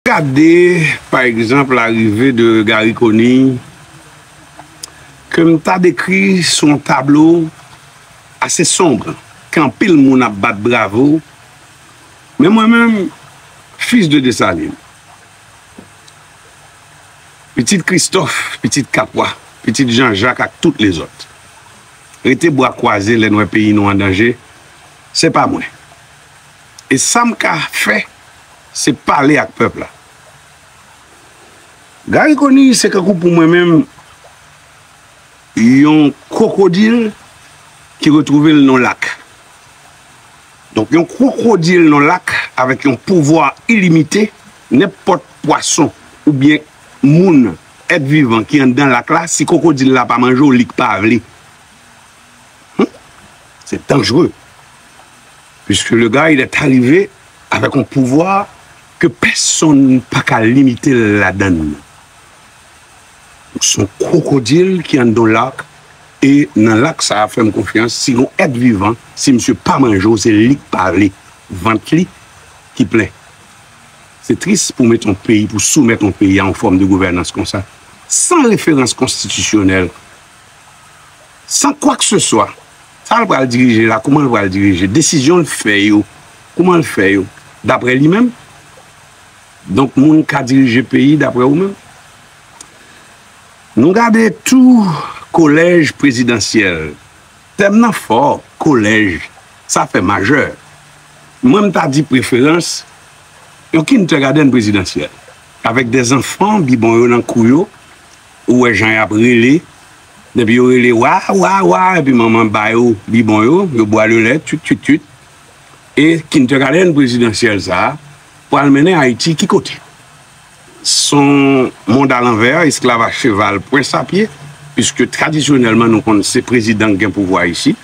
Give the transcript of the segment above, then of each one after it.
Gade pa egzanp larive de Gary Conille ke m ta dekri sou yon tablo ase sombre ke anpil moun ap bat bravo men mwen menm fils de Dessalines pitit Christophe pitit Capois pitit Jean Jacques ak tout lezòt rete bwa kwaze lè n wè peyi nou an danje se pa mwen E sa m ka fè se pale ak pèp la. Gary Conille se kankou pou mwen menm yon kwokodil ki retwouve l nan lak. Donk yon kwokodil nan lak avèk yon pouvwa ilimite, nenpòt pwason oubyen moun, èt vivan ki anndan lak la, si kwokodil la pa manje w li k pa vle. Hum! Se danjre. Puiske le guy est arrive avèk yon pouvwa ke pèsonn pa ka limite l ladan l. Donk se yon kwokodil ki anndan yon lak e nan lak sa a fè m konfyans si gon èt vivan si misye pa manje w se li k pale vant li ki plen. Se tris pou mete yon peyi pou soumèt yon peyi a yon fòm de gouvènans konsa san referans konstitisyonèl san kwakeseswa. Sa l pral dirije la, kouman l pral dirije? Desizyon l fè yo, kouman l fè yo? Daprè li menm? Donk moun ka dirije peyi daprè ou menm? Nou gade tou kolèj prezidansyèl. Tèm nan fò, kolèj, sa fè majè. Mwen m ta di preferans, yon kindergadenn prezidansyèl, avèk de zanfan bibon yo nan kou yo, Ou wè jan yap rele depi yo rele wa wa wa epi manman ba yo bibon yo yo bwa le lèt twit twit twit e kindergarten prezidansyèl sa pwal mennen ayiti ki kote son mond a lanvè esklav a cheval pwens a pye piske tradisyonèlman nou konn se prezidan ki gen pouvwa isi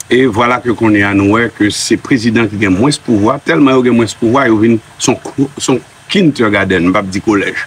e vwala ke kounye a nou wè ke se prezidan ki gen mwens pouvwa tèlman yo gen mwens pouvwa yo vin son kindergarten m pap di kolèj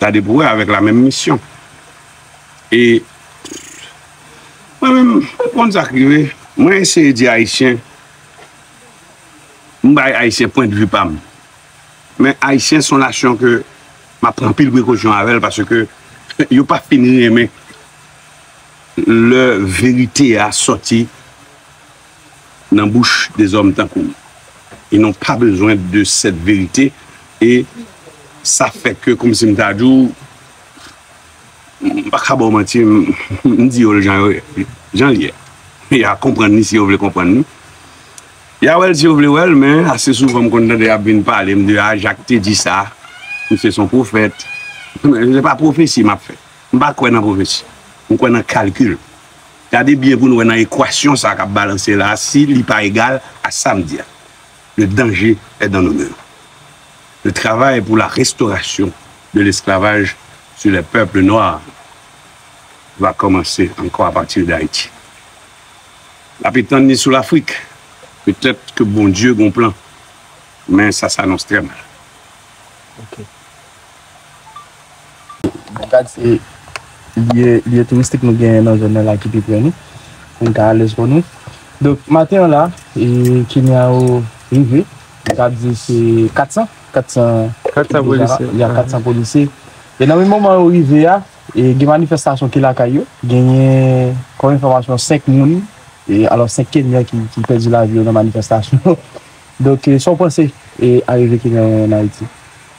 Tade pou wè avèk la menm misyon e mwen menm ou konn sak rive mwen eseye di ayisyen m bay ayisyen pwen de vi pam men ayisyen son nasyon ke map pran anpil prekosyon avèl paske yo pa fin renmen lè verite a sòti. nan bouch de zòm tankou w e nou pa bezwen de sèt verite e sa fè ke kòmsi m ta di w m pa ka ba w manti m di yo l jan yo ye jan l ye ya konprann li si yo vle konprann li ya wè l si yo vle wè l men ase souvan m konn tande y ap vin pale m di a Jak te di sa misye s on pwofèt se pa pwofesi m ap fè m pa kwè nan pwofesi m kwè nan kalkil. Gade byen pou nou wè nan ekwasyon sa kap balanse la si li pa egal a sa m di a. Le danger est dans nos mains. Le travail pour la restauration de l'esclavage sur les peuples noirs va commencer encore à partir d'Haïti. Nap etann li sou Lafrik. Peut-être que Bondye gon plan men sa s'annonce très mal. Ok. Gad se lye touristik nou genyen nan zòn nan la ki pi pre nou, pou n ka alèz kò nou. Donk, maten an la, e Kenya yo rive, mwen ka di se 400, 400 polisye, ya 400 polisye. E nan menm moman yo rive a, e gen manifestasyon ki lakay yo, genyen kòm enfòmasyon 5 moun, e alò 5 Kenyan ki pèdi lavi yo nan manifestasyon. Donk, sa w panse e arive Kenyan yo ann Ayiti?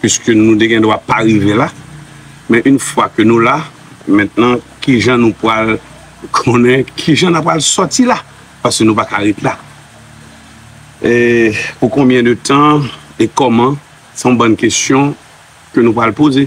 Piske nou te gen dwa pa rive la, men yn fwa ke nou la, mentnan kijan nou pwal konnen kijan na pwal sòti la, paske nou pa ka ret la. E pou konbyen de tan e kòman, se yon bann kesyon ke nou pwal poze.